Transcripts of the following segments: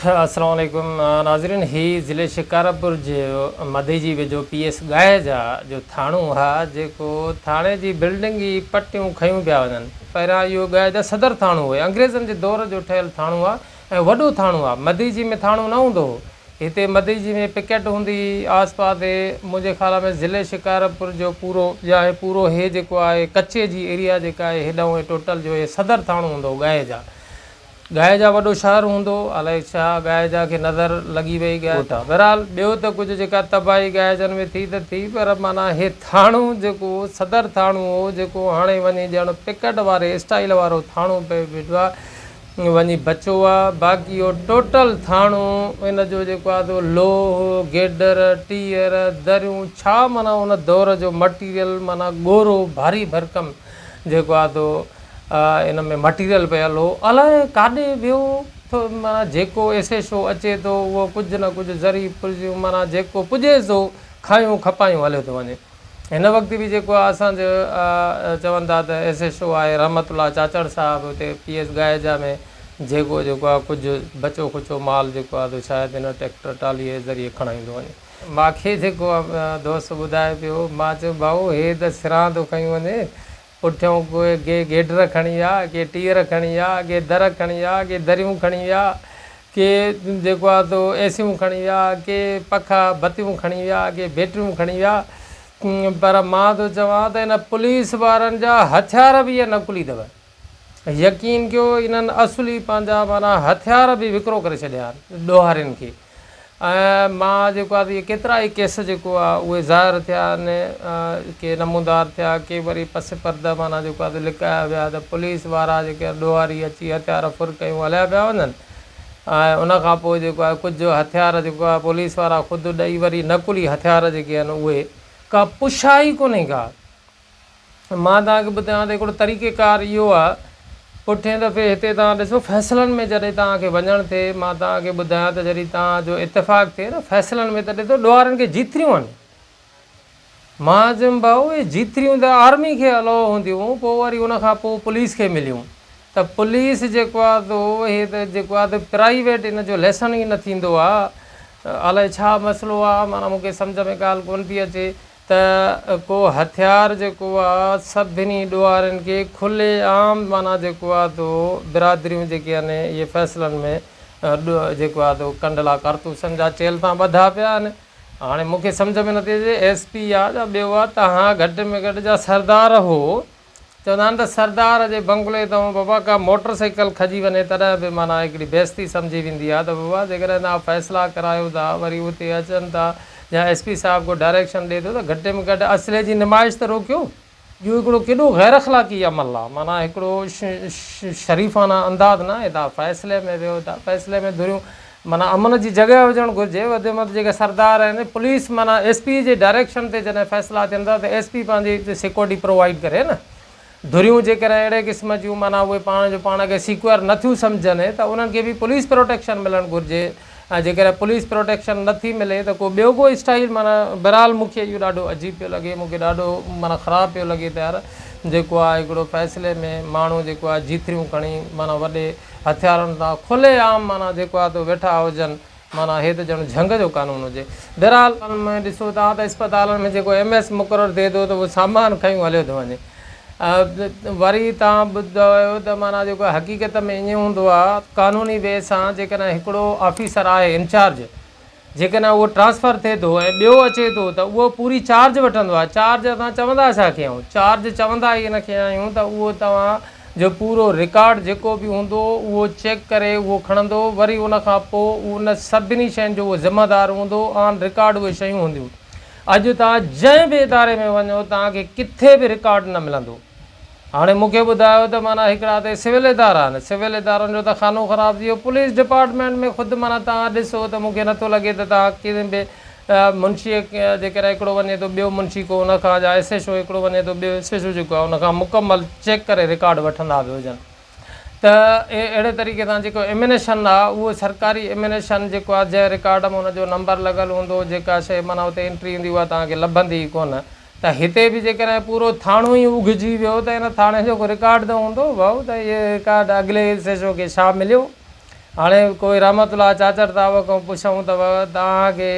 السلام عليڪم ناظرين هي ضلعي شڪارپور جي مدي جي ويجهو پي ايس ڳاهي جا جو ٿاڻو آهي جيڪو ٿاڻي جي بلڊنگ ئي پٽيون کنيون پيا وڃن پهريان اهو ڳاهي جا صدر ٿاڻو هئي انگريزن جي دور جو ٺهيل ٿاڻو آهي ۽ وڏو ٿاڻو آهي مدي جي ۾ ٿاڻو نه هوندو هو هتي مدي جي ۾ پڪيٽ هوندي هئي آس پاس هي منهنجي خيال ۾ ضلعي شڪارپور جو پورو يا هي پورو هي جيڪو آهي ڪچي جي ايريا جيڪا آهي هيڏانهون هي ٽوٽل جو هي صدر ٿاڻو هوندو هو ڳاهي جا ڳائي جا وڏو شهر هوندو. الائي ڇا ڳائي جا کي نظر لڳي وئي ڳوٺا. بهرحال ٻيو ته ڪجهه جيڪا تباهي ڳائي جن ۾ ٿي ته ٿي پر معنيٰ هي ٿاڻو جيڪو صدر ٿاڻو هو جيڪو هاڻي وڃي ڄڻ پڪٽ واري اسٽائيل وارو ٿاڻو پئي بيٺو آهي وڃي بچو آهي باقي اهو ٽوٽل ٿاڻو ان جو جيڪو آهي سو لوهه، گيڊر، ٽيئر، دريون ڇا معنيٰ ان دور جو مٽيريل معنيٰ ڳورو ڀاري ڀرڪم جيڪو آهي سو ان ۾ مٽيريل پيل هو الاء ڪاڏي ويو ٿو معنيٰ جيڪو ايسي شو اچي ٿو اهو ڪجهه نه ڪجهه ذري پرزيون معنيٰ جيڪو پڄي ٿو کايون کپايون هليو ٿو وڃي هن وقت به جيڪو آهي اسانجو چون ٿا ته ايسي شو آهي رحمت الله چاچڙ صاحب اتي پي ايس ڳائيجا ۾ جيڪو جيڪو آهي ڪجهه بچو کچو مال جيڪو آهي سو شايد هن ٽيڪٽر ٽالي جي ذريعي کڻائيندو وڃي مانکي جيڪو دوست ٻڌائي پيو مان چيو ڀائو هي ته سران ٿو کنيو وڃي پٺيون ڪي گيڊر کڻي ويا، ڪي ٽيئر کڻي ويا، ڪي در کڻي ويا، ڪي دريون کڻي ويا، ڪي جيڪو آهي سو اي سيون کڻي ويا، ڪي پکا بتيون کڻي ويا، ڪي بيٽريون کڻي ويا پر مان ٿو چوان ته ان پوليس وارن جا هٿيار به اهي نقلي اٿو. يقين ڪيو انهن اصلي پنهنجا معنيٰ هٿيار به وڪرو ڪري ڇڏيا آهن ڏوهارين کي. ۽ مان جيڪو آهي اهي ڪيترا ئي ڪيس جيڪو آهي اهي ظاهر ٿيا آهن ڪي نمودار ٿيا ڪي وري پس پرده معنيٰ جيڪو آهي لڪايا ويا ته پوليس وارا جيڪي آهن ڏوهاري اچي هٿيار ڦر ڪيون هليا پيا وڃن ۽ ان کان پوء جيڪو آهي ڪجهه هٿيار جيڪو آهي پوليس وارا خود ڏئي وري نقلي هٿيار جيڪي آهن اهي ڪا پڇا ئي ڪونهي ڪا مان توهان کي ٻڌايان ته هڪڙو طريقه ڪار اهو آهي پٺئين دفعي هتي توهان ڏسو فيصلن ۾ جڏهن توهان کي وڃڻ ٿئي مان توهان کي ٻڌايان ته جڏهن توهان جو اتفاق ٿئي نه فيصلن ۾ ته ڏسو ڏوهارن کي جيتريون آهن مان چيم ڀائو اهي جيتريون ته آرمي کي الو هونديون پوء وري ان کان پوء پوليس کي مليون ته پوليس جيڪو آهي تو اهي ته جيڪو آهي ته پرائيويٽ ان جو ليسن ئي نه ٿيندو آهي الائي ڇا مسئلو آهي معنيٰ مون کي سمجهه ۾ ڳالهه ڪونه ٿي اچي ته ڪو هٿيار جيڪو آ سڀني ڏوهارين کي کلي عام معنيٰ جيڪو آ تو برادريون جيڪي آهن اهي فيصلن ۾ جيڪو آ تو ڪنڊلا ڪارتوسن جا چيل تان ٻڌا پيا آهن هاڻي مون کي سمجهه ۾ نٿي اچي ايس پي آ جا ٻيو آ تهان گهٽ ۾ گهٽ جا سردار هو چوندا آهن ته سردار جي بنگلي تان بابا ڪا موٽر سائيڪل کڄي وڃي تڏهن به معنيٰ هڪڙي بيستي سمجهي ويندي آهي ته بابا جيڪڏهن توهان فيصلا ڪرايو ٿا وري اتي اچن ٿا يا ايس پي صاحب ڪو ڊائريڪشن ڏئي ٿو ته گهٽ ۾ گهٽ اصلي جي نمائش ته روڪيو اهو هڪڙو ڪيڏو غيراخلاقي عمل آهي معنيٰ هڪڙو شريفانه انداز ناهي توهان فيصلي ۾ ويهو ٿا فيصلي ۾ ڌريون معنيٰ امن جي جڳهه هجڻ گهرجي، وديمت جيڪي سردار آهن پوليس معنيٰ ايس پي جي ڊائريڪشن تي جڏهن فيصلا ٿين ٿا ته ايس پي پنهنجي سيڪورٽي پرووائيڊ ڪري نه ڌريون جيڪڏهن اهڙي قسم جون معنيٰ اهي پاڻ جو پاڻ کي سيڪيور نه ٿيون سمجهن ته انهن کي به پوليس پروٽيڪشن ملڻ گهرجي ۽ جيڪڏهن پوليس پروٽيڪشن نه ٿي ملي ته ڪو ٻيو ڪو اسٽائيل معنيٰ بهرحال مون کي اهو ڏاڍو عجيب پيو لڳي مون کي ڏاڍو معنيٰ خراب پيو لڳي ته يار جيڪو آهي هڪڙو فيصلي ۾ ماڻهو جيڪو آهي جيتريون کڻي معنيٰ وڏي هٿيارن تان کلي عام معنيٰ جيڪو آهي تو ويٺا هجن معنيٰ هي ته ڄڻ جهنگ جو قانون هجي. بهرحال. ۾ ڏسو ٿا ته اسپتالن ۾ جيڪو ايم ايس مقرر ٿئي ٿو ته اهو سامان کنيون هليو ٿو وڃي وري تان ٻڌايو ته معنيٰ جيڪو حقيقت ۾ ائين هوندو آهي قانوني وي سان جيڪڏهن هڪڙو آفيسر آهي انچارج جيڪڏهن اهو ٽرانسفر ٿئي ٿو ۽ ٻيو اچي ٿو ته اهو پوري چارج وٺندو آهي چارج اسان چوندا ڇا کي آهيون چارج چوندا ئي ان کي آهيون ته اهو توهان جو پورو رڪارڊ جيڪو به هوندو اهو چيڪ ڪري اهو کڻندو وري ان کان پوء ان سڀني شين جو اهو ذمه دار هوندو آن رڪارڊ اهي شيون هونديون اڄ توهان جنهن به اداري ۾ وڃو توهان کي ڪٿي به رڪارڊ نه ملندو. هاڻي مون کي ٻڌايو ته معنيٰ هڪڙا ته سول ادارا آهن، سول ادارن جو ته خانو خراب ٿي ويو، پوليس ڊپارٽمينٽ ۾ خود معنيٰ توهان ڏسو ته مون کي نٿو لڳي ته توهان ڪنهن به منشيء جيڪڏهن هڪڙو وڃي ٿو ٻيو منشي ڪو ان کان جا ايس ايڇ او هڪڙو وڃي ٿو ٻيو ايس ايڇ او جيڪو آهي ان کان مڪمل چيڪ ڪري رڪارڊ وٺندا به هجن ته اهڙي طريقي سان جيڪو ايمنيشن آهي اهو سرڪاري ايمنيشن جيڪو آهي جنهن رڪارڊ ۾ ان جو نمبر لڳل هوندو جيڪا شيء معنيٰ اتي انٽري هوندي اها توهان کي لڀندي ئي ڪونه ته هتي به جيڪڏهن پورو ٿاڻو ئي اگهجي ويو ته ان ٿاڻي جو ڪو رڪارڊ ته هوندو ڀائو ته اهي رڪارڊ اڳلي ايس ايڇ او کي ڇا مليو هاڻي ڪوئي رحمت الله چاچڙ تاوء کان پڇون ته توهان کي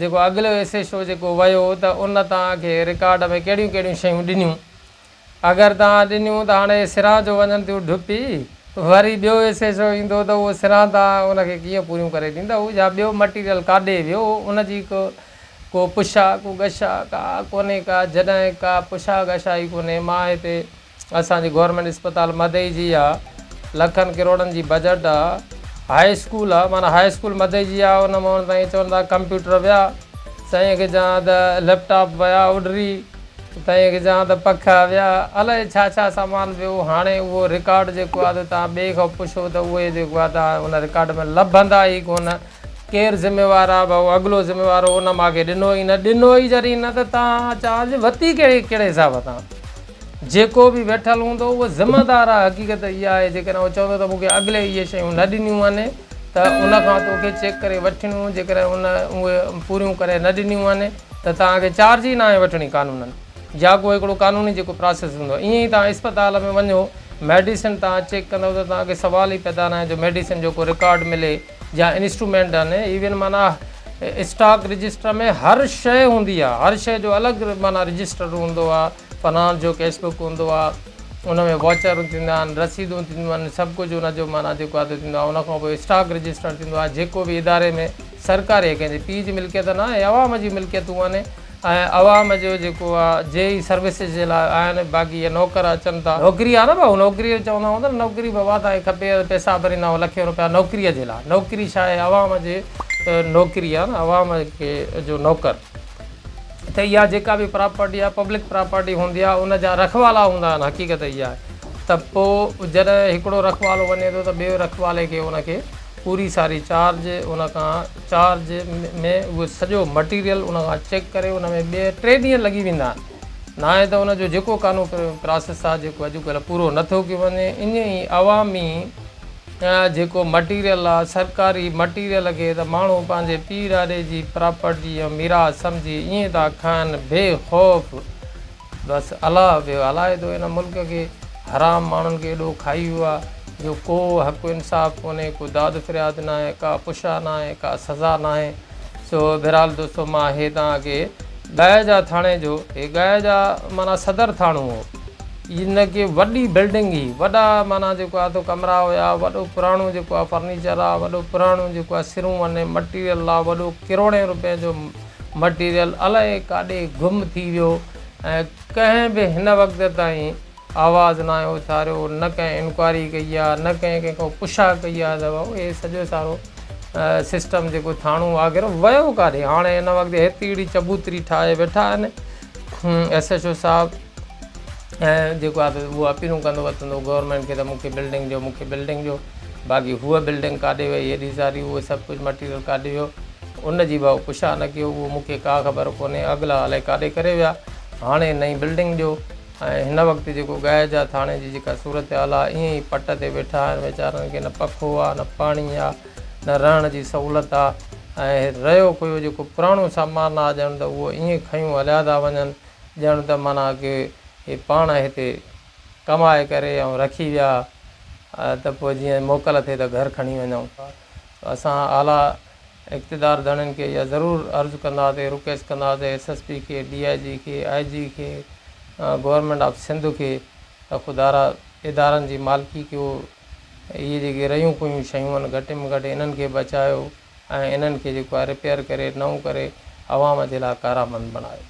جيڪو اڳلو ايس ايڇ او جيڪو ويو ته ان توهان کي رڪارڊ ۾ ڪهڙيون ڪهڙيون شيون ڏنيون اگر توهان ڏنيون ته هاڻي سران جو وڃن ٿيون ڍپي، وري ٻيو ايسي شو ايندو ته اهو سران توهان ان کي ڪيئن پوريون ڪري ڏيندؤ يا ٻيو مٽيريل ڪاڏي ويو ان جي ڪو ڪو پڇا ڪو گشا ڪا ڪونهي ڪا جڏهن ڪا پڇا گشا ئي ڪونهي مان هتي اسان جي گورنمينٽ اسپتال مدئي جي آ لکن ڪروڙن جي بجٽ آ هاء اسڪول آ معنيٰ هاء اسڪول مدئي جي آ ان مان هاڻي سائين چون ٿا ڪمپيوٽر ويا سائين کي چوان ته ليپ ٽاپ ويا اڏري. تائين اڳجان ته پک اويا الائي ڇا ڇا سامان به هو هاڻي اهو رڪارڊ جيڪو آ ته توهان ٻئي کان پڇو ته اهي جيڪو آ توهان ان رڪارڊ ۾ لڀندا ئي ڪونه ڪير ذميوار آ ڀئو اڳلو ذميوار هو ان ماکي ڏنو ئي نه ڏنو ئي جڏهن نه ته توهان چارج وتي ڪهڙي ڪهڙي حساب تان جيڪو به ويٺل هوندو اهو ذمه دار آ حقيقت اها آهي جيڪڏهن اهو چوندو ته مونکي اڳلي اهي شيون نه ڏنيون آهن ته ان کان توکي چيڪ ڪري وٺڻيون جيڪڏهن ان اهي پوريون ڪري نه ڏنيون آهن ته توهان کي چارج ئي ناهي وٺڻي قانونن جا ڪو هڪڙو قانوني جيڪو پراسيس هوندو آهي ائين ئي توهان اسپتال ۾ وڃو ميڊيسن توهان چيڪ ڪندؤ ته توهان کي سوال ئي پيدا ناهي جو ميڊيسن جو ڪو رڪارڊ ملي جا انسٽرومينٽ آهن ايون معنيٰ اسٽاڪ رجسٽر ۾ هر شيء هوندي آهي هر شيء جو الڳ معنيٰ رجسٽر هوندو آهي فنانس جو ڪيش بڪ هوندو آهي ان ۾ واچر ٿيندا آهن رسيدون ٿينديون آهن سڀ ڪجهه ان جو معنيٰ جيڪو آهي ته ٿيندو آهي ان کان پوء اسٽاڪ رجسٽر ٿيندو آهي جيڪو به اداري ۾ سرڪاري ۽ ڪنهن جي پيء جي ملڪيت نه آهي، عوام جي ملڪيتون آهن ۽ عوام جو جيڪو آ جي ئي سروسز جي لاء آهن، باقي اهي نوڪر اچن ٿا. نوڪري آ نه ڀائو، نوڪري چوندا هوندا نه، نوڪري به اها تان کپي ها ته پيسا ڀريندا هئا لکين روپيا نوڪري جي لاء، نوڪري ڇا آهي عوام جي نوڪري آ نه، عوام کي جو نوڪر ته اها جيڪا به پراپرٽي آ پبلڪ پراپرٽي هوندي آ ان جا رکوالا هوندا آهن، حقيقت اها آهي ته پوء جڏهن هڪڙو رکوالو وڃي ٿو ته ٻئي رکوالي کي ان کي. پوري ساري چارج ان کان چارج ۾ اهو سڄو مٽيريل ان کان چيڪ ڪري ان ۾ ٻي ٽي ڏينهن لڳي ويندا آهن ناهي ته ان جو جيڪو قانون پراسيس آهي جيڪو اڄڪلهه پورو نٿو ڪيو وڃي ائين ئي عوامي جيڪو مٽيريل آهي سرڪاري مٽيريل کي ته ماڻهو پنهنجي پيء ڏاڏي جي پراپرٽي ۽ ميراث سمجهي ائين ٿا کائن بي خوف بس الاء ويو علائدو ان ملڪ کي حرام ماڻهن کي ايڏو کائي ويو آ جو ڪو حق انصاف ڪونهي ڪو داد فرياد ناهي ڪا پشا ناهي ڪا سزا ناهي سو بهرحال دوستو مان اهي توهان کي ڳائي جا ٿاڻي جو هي ڳائي جا معنيٰ صدر ٿاڻو هو ان کي وڏي بلڊنگ هي وڏا معنيٰ جيڪو آ تو ڪمرا هيا وڏو پراڻو جيڪو آ فرنيچر آ وڏو پراڻو جيڪو آ سرون وني مٽيريل آ وڏو ڪروڙين روپين جو مٽيريل الائي ڪاڏي گم ٿي ويو ۽ ڪنهن به هن وقت تائين آواز ناهي اٿاريو، نه ڪنهن انڪوائري ڪئي آ، نه ڪنهن ڪنهن کان پڇا ڪئي آ ته بابو هي سڄو سارو سسٽم جيڪو ٿاڻو آگر ويو ڪاڏي؟ هاڻي هن وقت هيتري چبوتري ٺاهي ويٺا آهن ايس ايڇ او صاحب. ۽ جيڪو آهي سو هو اپيلون ڪندو وتندو گورنمينٽ کي ته مون کي بلڊنگ ڏيو مون کي بلڊنگ ڏيو باقي هوء بلڊنگ ڪاڏي وئي هيڏي ساري اهو سڀ ڪجهه مٽيريل ڪاڏي ويو ان جي به پڇا نه ڪيو اهو مون کي ڪا خبر ڪونهي اڳلا الائي ڪاڏي ڪري ويا هاڻي نئين بلڊنگ ڏيو ۽ هن وقت جيڪو ڳائي جا ٿاڻي جي جيڪا صورتحال آهي ائين ئي پٽ تي ويٺا آهن ويچارن کي نه پکو آهي نه پاڻي آهي نه رهڻ جي سهولت آهي ۽ رهيو ڪويو جيڪو پراڻو سامان آهي ڄڻ ته اهو ائين کنيون هليا ٿا وڃن ڄڻ ته معنيٰ ڪي هي پاڻ هتي ڪمائي ڪري ۽ رکي ويا ته پوء جيئن موڪل ٿئي ته گهر کڻي وڃون. اسان اعليٰ اقتدار ڌڻين کي اها ضرور عرض ڪنداسي، رڪويسٽ ڪنداسي ايس ايس پي کي، ڊي آء جي کي، آء جي کي، گورنمينٽ آف سنڌ کي ته خدارا ادارن جي مالڪي ڪيو. اهي جيڪي رهيون ڪوهيون شيون آهن گهٽ ۾ گهٽ انهن کي بچايو. ۽ انهن کي جيڪو آهي رپيئر ڪري نئون ڪري عوام جي لاء ڪارامند بڻايو.